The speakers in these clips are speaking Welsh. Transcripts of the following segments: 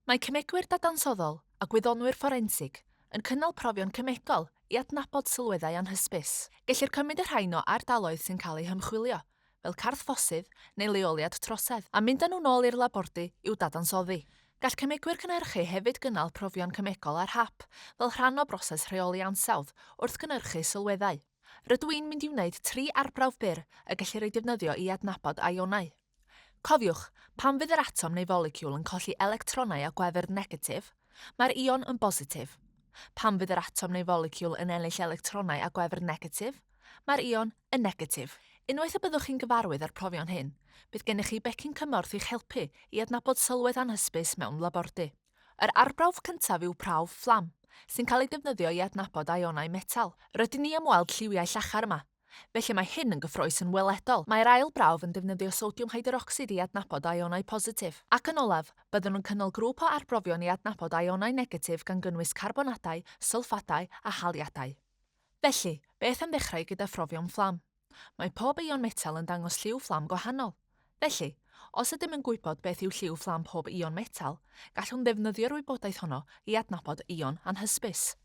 Mae cemegwyr dadansoddol a gwyddonwyr fforensig yn cynnal profion cemegol i adnabod sylweddau anhysbys. Gellir cymryd y rhain o ardaloedd sy'n cael eu hymchwilio, fel carthffosydd neu leoliad trosedd, a mynd â nhw'n ôl i'r labordy i'w dadansoddi. Gall cemegwyr cynhyrchu hefyd gynnal profion cemegol ar hap fel rhan o broses rheoli ansawdd wrth gynhyrchu sylweddau. Rydw i'n mynd i wneud tri arbrawf byr y gellir eu defnyddio i adnabod ionau. Cofiwch, pan fydd yr atom neu foleciwl yn colli electronau o gwefr negatif, Mae'r ion yn bositif. Pan fydd yr atom neu foleciwl yn ennill electronau a gwefr negatif, mae'r ion yn negatif. Unwaith y byddwch chi'n gyfarwydd â'r profion hyn, bydd gennych chi becyn cymorth i'ch helpu i adnabod sylwedd anhysbys mewn labordy. Yr arbrawf cyntaf yw prawf fflam, sy'n cael ei defnyddio i adnabod ionau metel. Rydyn ni am weld lliwiau llachar yma, Felly mae hyn yn gyffrous yn weledol. Mae'r ail brawf yn defnyddio sodiwm hydrocsid i adnabod aionau positif. Ac yn olaf, byddwn yn cynnal grŵp o arbrofion i adnabod aionau negatif gan gynnwys carbonadau, sylffadau a haliadau. Felly, beth am ddechrau gyda phrofion fflam? Mae pob eion metel yn dangos lliw fflam gwahanol. Felly, os ydym yn gwybod beth yw lliw fflam pob ion metal, gallwn ddefnyddio'r wybodaeth honno i adnabod ion anhysbys.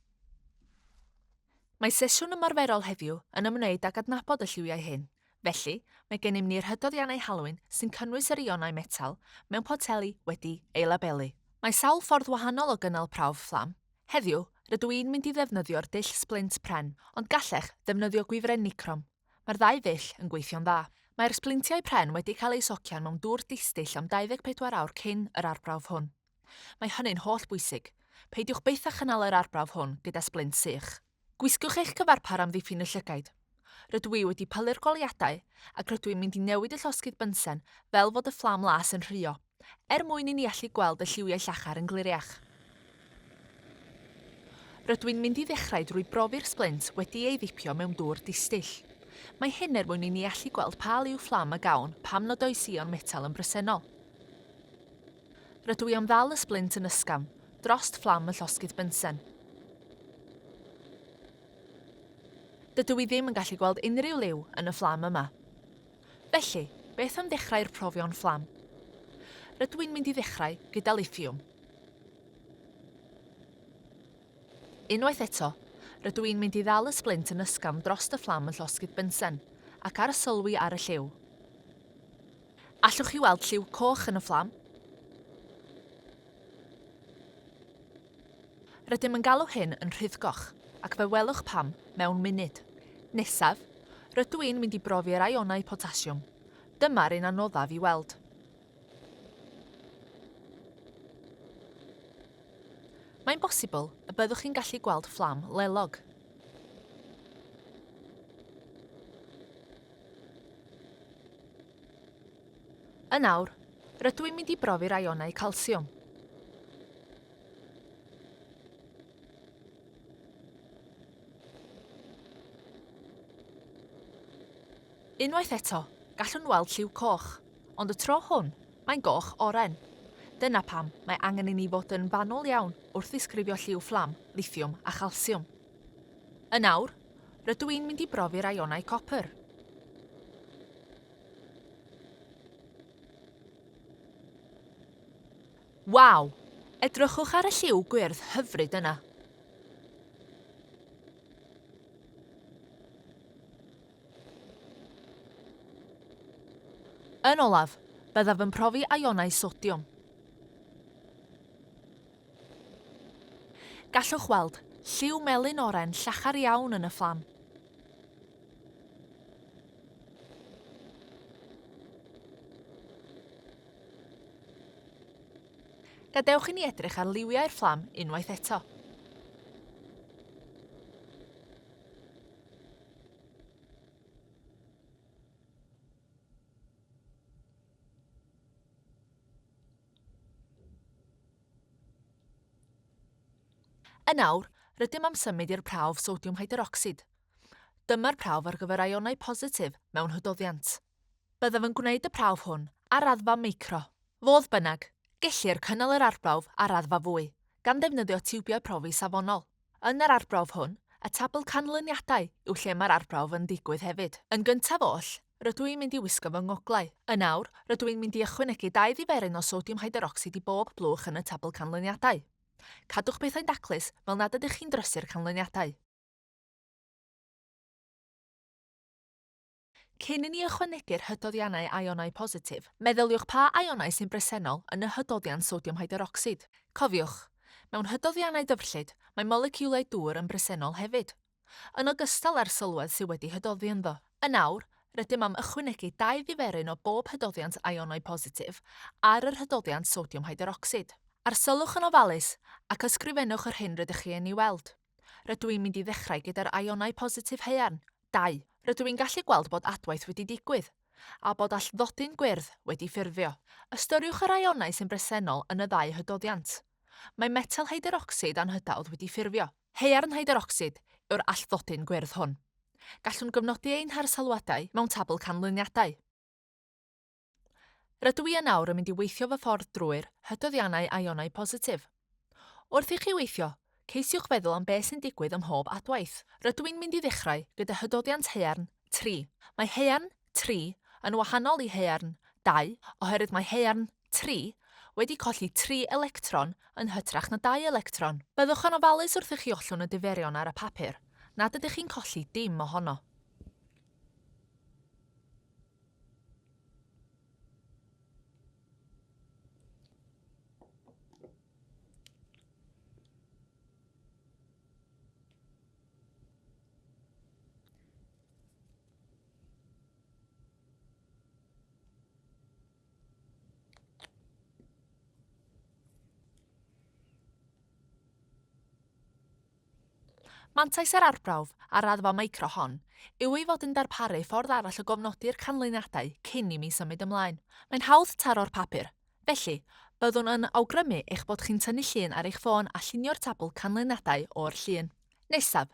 Mae sesiwn ymarferol heddiw yn ymwneud ag adnabod y lliwiau hyn, felly mae gennym ni'r hydoddiannau halwyn sy'n cynnwys yr ionau metal mewn poteli wedi ei labelu. Mae sawl ffordd wahanol o gynnal prawf fflam. Heddiw, rydw i'n mynd i ddefnyddio'r dull splint pren, ond gallech ddefnyddio gwifren nicrom. Mae'r ddau ddull yn gweithio'n dda. Mae'r sblintiau pren wedi cael eu socian mewn dŵr distyll am 24 awr cyn yr arbrawf hwn. Mae hynny'n holl bwysig. Peidiwch byth â chynnal yr arbrawf hwn gyda sblint sych. Gwisgwch eich cyfarpar am ddiffyn y llygaid. Rydw i wedi pylu'r goleuadau ac rydw i'n mynd i newid y llosgydd bynsen fel fod y fflam las yn rhuo. er mwyn i ni allu gweld y lliwiau llachar yn gliriach. Rydw i'n mynd i ddechrau drwy brofi'r splint wedi ei ddipio mewn dŵr distyll. Mae hyn er mwyn i ni allu gweld pa liw fflam y gawn pam nad oes ïon metel yn bresennol. Rydw i am ddal y splint yn ysgafn, drost fflam y llosgydd bensen. Dydw i ddim yn gallu gweld unrhyw liw yn y fflam yma. Felly, beth am ddechrau'r profion fflam? Rydw i'n mynd i ddechrau gyda lithiwm. Unwaith eto, rydw i'n mynd i ddal y sblint yn ysgafn drost y fflam yn llosgi'r bensen, ac arsylwi ar y lliw. Allwch chi weld lliw coch yn y fflam? Rydym yn galw hyn yn rhyddgoch, ac fe welwch pam mewn munud. Nesaf, rydw i'n mynd i brofi'r ionau potasiwm. Dyma'r un anoddaf i weld. Mae'n bosibl y byddwch chi'n gallu gweld fflam lelog. Yn awr, rydw i'n mynd i brofi'r ionau calsiwm. Unwaith eto, gallwn weld lliw coch, ond y tro hwn, mae'n goch oren. Dyna pam mae angen i ni fod yn fanwl iawn wrth ddisgrifio lliw fflam, lithiwm a chalsiwm. Yn awr, rydw i'n mynd i brofi'r ionau copr. Waw! Edrychwch ar y lliw gwyrdd hyfryd yna. Yn olaf, byddaf yn profi ionau sodiwm. Gallwch weld lliw melyn oren llachar iawn yn y fflam. Gadewch i ni edrych ar liwiau'r fflam unwaith eto. Yn awr, rydym am symud i'r prawf sodiwm hyderocsid. Dyma'r prawf ar gyfer ionau positif mewn hydoddiant. Byddaf yn gwneud y prawf hwn ar raddfa micro. Fodd bynnag, gellir cynnal yr arbrawf ar raddfa fwy, gan ddefnyddio tiwbiau profi safonol. Yn yr arbrawf hwn, y tabl canlyniadau yw lle mae'r arbrawf yn digwydd hefyd. Yn gyntaf oll, Rydw i'n mynd i wisgo fy ngoglau. Yn awr, rydw i'n mynd i ychwanegu dau ddiferyn o sodiwm hyderocsid i bob blwch yn y tabl canlyniadau. Cadwch pethau'n daclus, fel nad ydych chi'n drysu'r canlyniadau. Cyn i ni ychwanegu'r hydoddiannau aionau positif, meddyliwch pa aionau sy'n bresennol yn y hydoddiant sodiwm hyderocsid. Cofiwch, mewn hydoddiannau dyfrllyd, mae moleciwlau dŵr yn bresennol hefyd. yn ogystal â'r sylwedd sydd wedi hydoddi ynddo. Yn awr, rydym am ychwanegu dau ddiferyn o bob hydoddiant ionau positif ar yr hydoddiant sodiwm hyderocsid. Arsylwch yn ofalus, ac ysgrifennwch yr hyn rydych chi yn ei weld. Rydw i'n mynd i ddechrau gyda'r ionau positif haearn, 2. Rydw i'n gallu gweld bod adwaith wedi digwydd, a bod allthdodyn gwyrdd wedi ffurfio. Ystyriwch yr ionau sy'n bresennol yn y ddau hydoddiant. Mae metel hyderocsid anhydawdd wedi ffurfio. Haearn hydrocsid yw'r allflodyn gwyrdd hwn. Gallwn gyfnodi ein harsylwadau mewn tabl canlyniadau. Rydw i yn awr yn mynd i weithio fy ffordd drwy'r hydoddiannau ionau positif. Wrth i chi weithio, ceisiwch feddwl am beth sy'n digwydd ym mhob adwaith. Rydw i'n mynd i ddechrau gyda hydoddiant haearn 3. Mae haearn 3 yn wahanol i haearn 2 oherwydd mae haearn tri, wedi colli tri electron yn hytrach na dau electron. Byddwch yn ofalus wrth i chi ollwng y diferion ar y papur, nad ydych chi'n colli dim ohono. Mantais yr arbrawf ar raddfa micro hon yw ei fod yn darparu ffordd arall o gofnodi'r canlyniadau cyn i mi symud ymlaen. Mae'n hawdd taro'r papur, felly, byddwn yn awgrymu eich bod chi'n tynnu llun ar eich ffôn a llunio'r tabl canlyniadau o'r llun. Nesaf,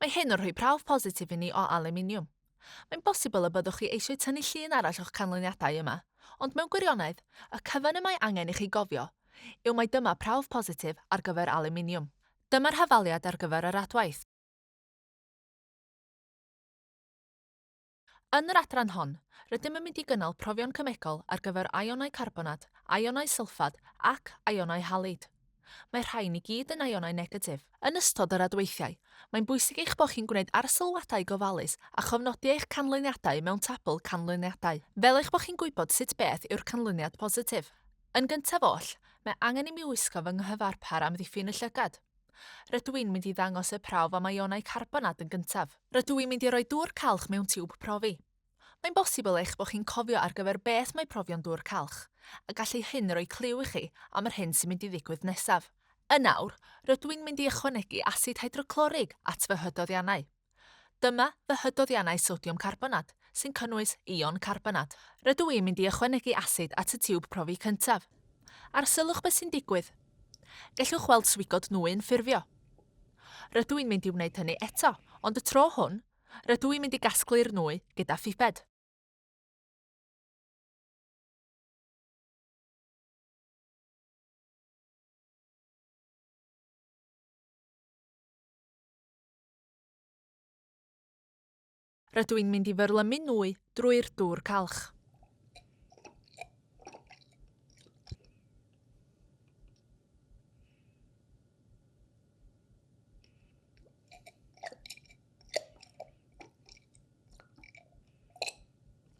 Mae hyn yn rhoi prawf positif i ni o alwminiwm. Mae'n bosibl y byddwch chi eisiau tynnu llun arall o'ch canlyniadau yma, ond mewn gwirionedd, y cyfan y mae angen i chi gofio yw mai dyma prawf positif ar gyfer alwminiwm. Dyma'r hafaliad ar gyfer yr adwaith. Yn yr adran hon, rydym yn mynd i gynnal profion cemegol ar gyfer aionau carbonad, aionau sylffad ac aionau halid. Mae rhain i gyd yn aionau negatif. Yn ystod yr adweithiau, mae'n bwysig eich bod chi'n gwneud arsylwadau gofalus a chofnodi eich canlyniadau mewn tabl canlyniadau, fel eich bod chi'n gwybod sut beth yw'r canlyniad positif. Yn gyntaf oll, mae angen i mi wisgo fy nghyfarpar amddiffyn y llygad. Rydw i'n mynd i ddangos y prawf am ionau carbon ad yn gyntaf. Rydw i'n mynd i roi dŵr calch mewn tiwb profi. Mae'n bosibl eich bod chi'n cofio ar gyfer beth mae profion dŵr calch, a gallu hyn roi cliw i chi am yr hyn sy'n mynd i ddigwydd nesaf. Yn awr, rydw i'n mynd i ychwanegu asid hydroclorig at fy hydoddiannau. Dyma fy hydoddiannau sodiwm carbonad, sy'n cynnwys ion carbonad. Rydw i'n mynd i ychwanegu asid at y tiwb profi cyntaf. Arsylwch beth sy'n digwydd. Gellwch weld swigod nwy'n ffurfio. Rydw i'n mynd i wneud hynny eto, ond y tro hwn, rydw i'n mynd i gasglu'r nwy gyda phiped. Rydw i'n mynd i fyrlymu nwy drwy'r dŵr calch.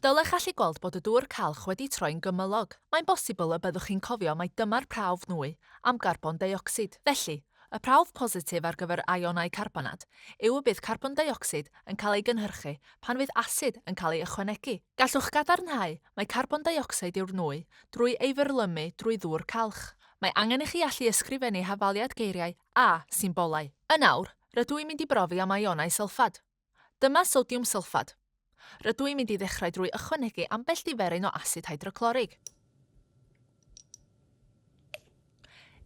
Dylech allu gweld bod y dŵr calch wedi troi'n gymylog. Mae'n bosibl y byddwch chi'n cofio mai dyma'r prawf nwy am garbon deuocsid. Felly, y prawf positif ar gyfer ionau carbonad yw y bydd carbon deuocsid yn cael ei gynhyrchu pan fydd asid yn cael ei ychwanegu. Gallwch gadarnhau mai carbon deuocsid yw'r nwy drwy ei fyrlymu drwy ddŵr calch. Mae angen i chi allu ysgrifennu hafaliad geiriau a symbolau. Yn awr, rydw i'n mynd i brofi am ionau sylffad. Dyma sodiwm sylffad. Rydw i'n mynd i ddechrau drwy ychwanegu ambell diferyn o asid hydroclorig.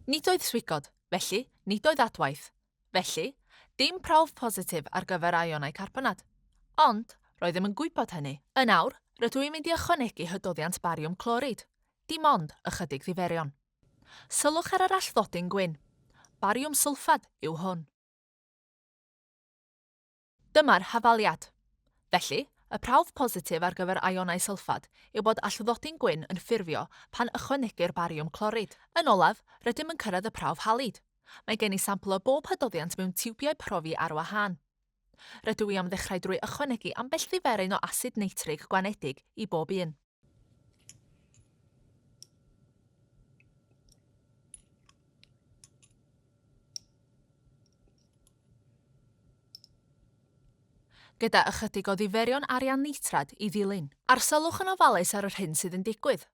Nid oedd swigod, felly nid oedd adwaith. Felly, dim prawf positif ar gyfer aionau carbonad. Ond, roeddem yn gwybod hynny. Yn awr, rydw i'n mynd i ychwanegu hydoddiant bariwm clorid, dim ond ychydig ddiferion. Sylwch ar yr allflodyn gwyn. Bariwm sylffad yw hwn. Dyma'r hafaliad. Felly, y prawf positif ar gyfer ionau sylffad yw bod allwddodi'n gwyn yn ffurfio pan ychwanegir bariwm clorid. Yn olaf, rydym yn cyrraedd y prawf halid. Mae gen i sampl o bob hydoddiant mewn tiwbiau profi ar wahân. Rydw i am ddechrau drwy ychwanegu ambell ddiferyn o asid neitrig gwanedig i bob un. gyda ychydig o ddiferion arian nitrad i ddilyn. Arsylwch yn ofalus ar yr hyn sydd yn digwydd.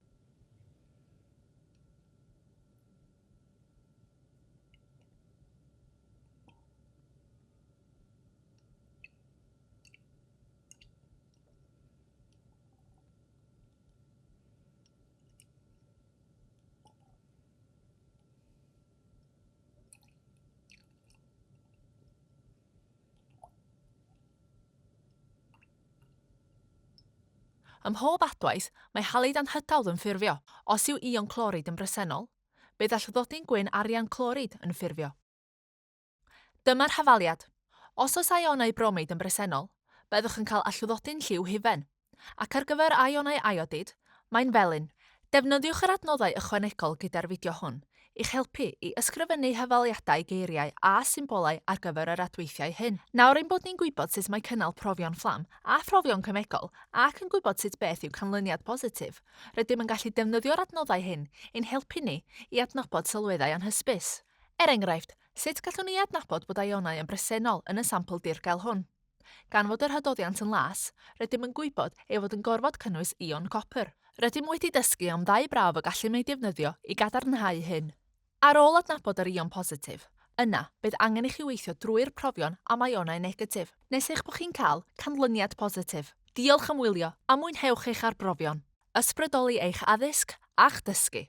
Ym mhob adwaith, mae halid anhydawdd yn ffurfio. Os yw ion clorid yn bresennol, bydd allfddodi'n gwyn arian clorid yn ffurfio. Dyma'r hafaliad. Os oes ionau bromeid yn bresennol, byddwch yn cael allwddodi'n lliw hufen, ac ar gyfer ionau iodid, mae'n felyn. Defnyddiwch yr adnoddau ychwanegol gyda'r fideo hwn i'ch helpu i ysgrifennu hafaliadau geiriau a symbolau ar gyfer yr adweithiau hyn. Nawr ein bod ni'n gwybod sut mae cynnal profion fflam a phrofion cemegol ac yn gwybod sut beth yw canlyniad positif, rydym yn gallu defnyddio'r adnoddau hyn i'n helpu ni i adnabod sylweddau anhysbys. Er enghraifft, sut gallwn ni adnabod bod ionau yn bresennol yn y sampl dirgel hwn? Gan fod yr hydoddiant yn las, rydym yn gwybod ei fod yn gorfod cynnwys ion copr. Rydym wedi dysgu am ddau brawf y gallem eu defnyddio i gadarnhau hyn. Ar ôl adnabod yr ion positif, yna, bydd angen i chi weithio drwy'r profion am ionau negatif, nes eich bod chi'n cael canlyniad positif. Diolch am wylio, a mwynhewch eich arbrofion, ysbrydoli eich addysg a'ch dysgu!